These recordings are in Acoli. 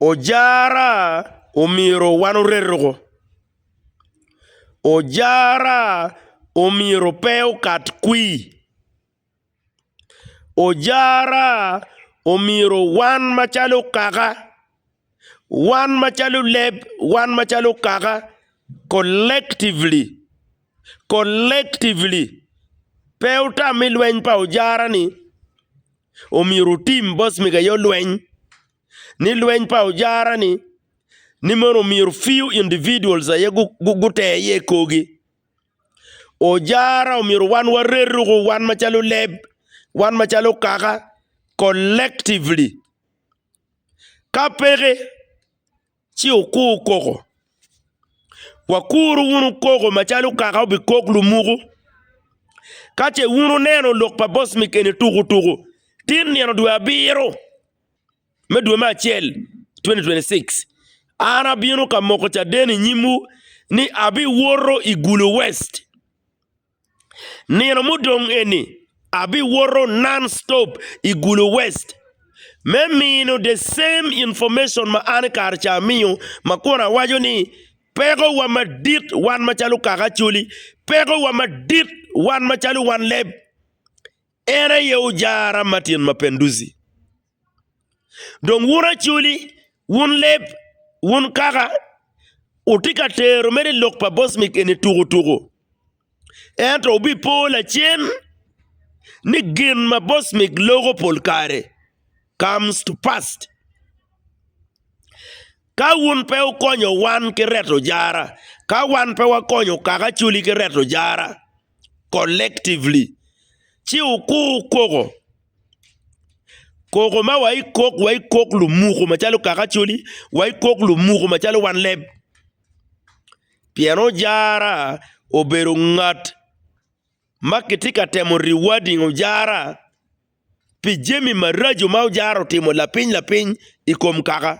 Ojara omyero wan oreto-gu, ojara omyero pe okat kwir, ojara omyero wan macalo kaka, wan macalo leb, wan macalo kaka collectively, collectively pe otam me lweny pa ojara-ni. omyero wutim bos mego aye olweny ni lweny pa ojara-ni ni mono myero few individuals aye gute iye i korgi. Ojara omyero wan warer ruku wan macalo leb, wan macalo kaka collectively ka peke Ci okur koko. Wakuru wunu koko macalo kaka obikok lumuku. Ka ce wun wuneno lok pa boss mi keni tuku tuku, tin nino dwe abiro me dwe me acel 2026, an abino ka moko caden i nyimwu ni abiwoto i Gulu West. Nino mudong eni, abiwoto non-stop i Gulu West me mino the same information ma an i kare ca amiyo ma kun awaco ni pekowa madit wan macalo kaka Acholi, pekowa madit wan macalo wanleb en aye Ojara Martin Mapenduzi. Dong wun acoli, wun leb, wun kaka, wutye ka tero mere i lok pa bocmic eni tukutuku. Ento wubipo lacen ni gin ma bocmic loko pol kare comes to pass. Ka wun pe wukonyo wan ki reto jara, ka wan pe wakonyo kaka acoli ki reto jara collectively, ci wukur koko. Koko ma wa ikok wa ikok lumuku macalo kaka coli wa ikok lumuku macalo wan leb pien ojara obedo ngat ma kitye ka temo riwading ojara pi jami maraco ma ojara otimo lapiny lapiny i kom kaka.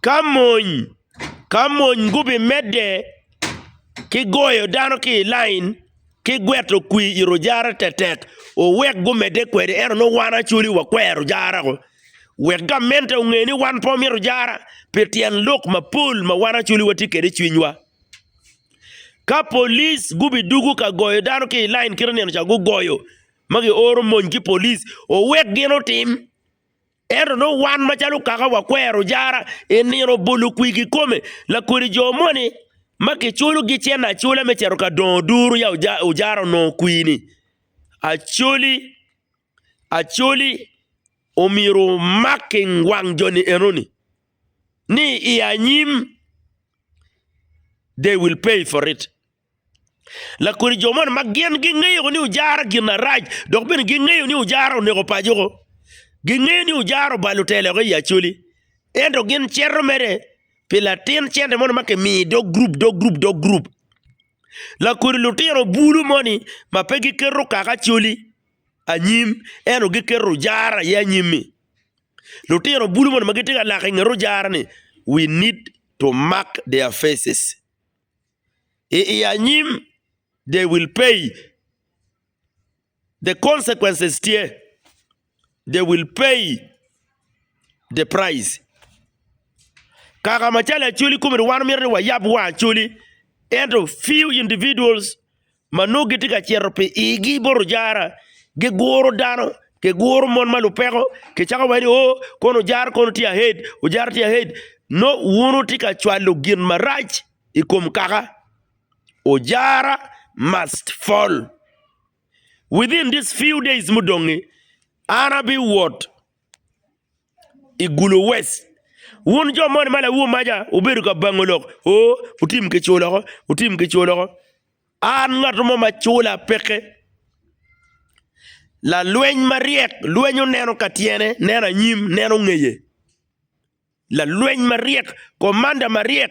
Ka mony ka mony gubimedde ki goyo dano ki i lain ki gweto kwir i rujara tetek, wuwek gumedde kwede, ento nongo wan Acholi wakwero rujara-gu. Wek gamente onge ni wan pe wamito rujara pi tyen lok mapol ma wan Acholi watye kwede i cwinywa. Ka police gubidwogo ka goyo dano ki i lain kit ma ineno ca gugoyo ma gioro mony ki police, wuwek gin otim. Ento nongo wan macalo kaka wakwero jara i nino bolo kwir kikome lakodi jo moni ma kiculogi cente acula me cito ka dongo duru ya ojara onongo kwir-ni. Acoli acoli omyero omak ki wang joni enoni ni i anyim they will pay for it. Lakodi jo man ma gin gingeyo ni ojara gin arac dok bene gingeyo ni ojara oneko paco-gu. Gingeyo ni ojara obalo te lok i Acholi. Ento gin cito mere pi latin cente moni ma kimiyo i dog gurup dog gurup dog gurup. Lakodi lutino bulu moni ma pe giketo kaka Acholi anyim ento giketo ojara aye anyim-mi. Lutino bulu moni ma gitye ka lak inget ojara-ni we need to mark their faces. i anyim they will pay the consequences tye they will pay the price kaka macalo acwali kome-ni wan myero ni wayab wang acwali ento few individuals ma nongo gitye ka cito pi igi bot ojara, giguro dano, giguro mon ma lupeko, kicako wai ni o, kono ojara kono tye ahead, ojara tye ahead. Nongo wun wutye ka cwalo gin marac i kom kaka. Ojara must fall. Within these few days mudong-ngi, an abiwot. i Gulu West. Wun jo moni ma lawomaca wubedo ka bango lok, oo, wutim kicu loko, wutim kicu loko. An ngat mo ma cula peke, lalweny maryek, lwenyo neno ka tyene, neno anyim, neno ngeye, lalweny maryek, komanda maryek.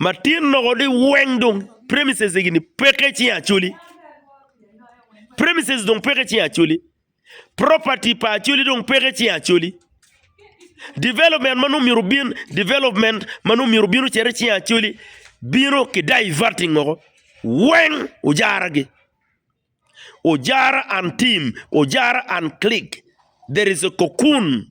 Matin loko ni weng dong premises egi ni peke cing acoli. Premises dong peke cing acoli. Property pa acoli dong peke cing acoli. Development ma nongo myero obin, development ma nongo myero obin ocito cing acoli bino ki diverting woko. Weng ojara gi. Ojara and team, ojara and click. There is a cocoon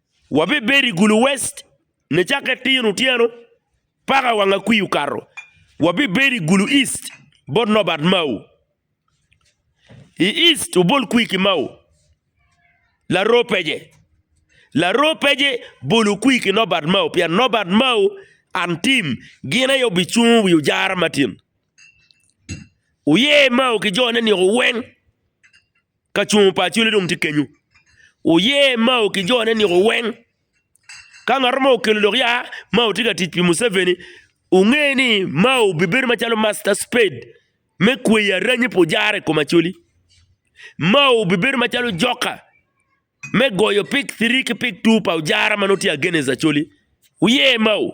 Wabibedo i Gulu West nicakke tir otyeno paka wang akwii okato. Wabibedo i Gulu East bot Nobert Mao. I East obol kwii ki Mao. Laroo pece. Laroo pece bolo kwii ki Nobert Mao pien Nobert Mao and team gin aye obicungo wi ojara matin. Wuye Mao ki jone-ni weng. Ka cungo pa Acoli dong tye kenyo, wuye Mao ki jone niko weng. Ka ngat mo okelo dok ya Mao tye ka tic pi Museveni, wunge ni Mao bibedo macalo master spade me kweyo aranyi pi ojara i kom Acoli. Mao bibedo macalo joka me goyo pick three ki pick two pa ojara ma nongo tye against Acoli. Wuye Mao!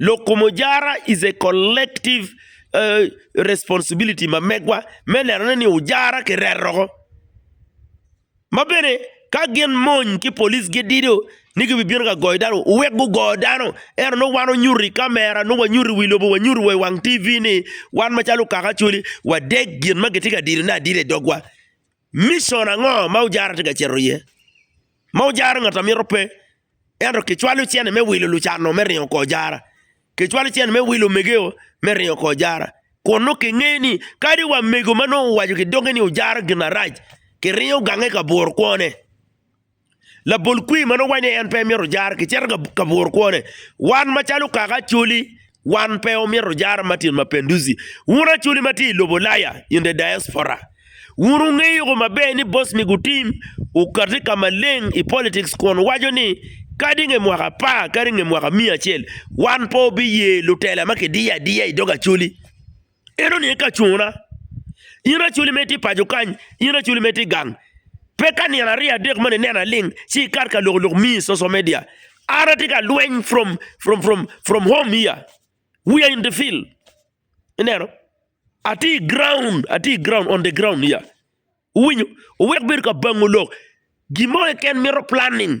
Loko mujara is a collective responsibility ma megwa me nenone ni ojara kireto woko. Ma bene ka gin mony ki polic gidido ni gibibino ka goyo dano, wuwek gugo dano. Ento nongo wan onyuto i kamera, nongo wanyuto i wi lobo, wanyuto wa i wang TV ni wan macalo Kaka Acholi wadeg gin ma gitye ka didone adida i dogwa. Micon ango ma ojara tye ka cito iye? Ma ojara ngat a mito pe, ento kicwalo cente me wilo lucan-nu me ringo kor jara. Kicwalo cente me wilo omegeo me ringo kor jara, kun nongo kingeyo ni kadi wa mego ma nongo owaco ki doge ni ojara gin arac, kiringo gange ka buro kwone. Labol kwir ma nongo wacce en pe myero ojar kicito ka ka buro kwone. Wan macalo kaka Acholi, wan pe omyero ojar Martin Mapinduzi. Wun Acholi ma tye i lobo Ulaya, in the diaspora, wun wungeyo ko maber ni Bosni gutim okati ka maleng i politics kun waco ni kadi nge mwaka apar kadi nge mwaka miya acel wan pe wabiye lutela ma kidiyo adiya i dog Acholi. En oniye ka cuna. In racoli ma itye i paco kany, in racoli ma itye i gang, pe ka nino aryo adek moni ineno aling ci ikat ka lok lok miyi i social media. An atye ka lweny from from from from home here, we are in the field ineno atye i ground atye i ground on the ground here iwinyo wek bedo ka bango lok gin mo keken mito planning.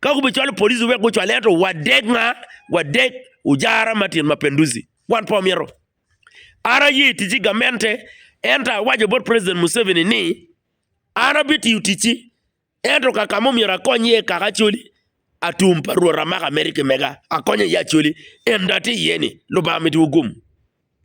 Ka gubicwalo police wek gucwale ento wadek nga? Wadek ujara Martin Mapenduzi. Wan pe wamito. An aye i ticci gamente ento awaco bot President Museveni ni an abitiyo ticci ento ka ka ma omyero akony iye kaka Acholi, atum pa Rwot amako America mega akonyo iye Acholi endo atye iye ni Lubanga mitiwu gum.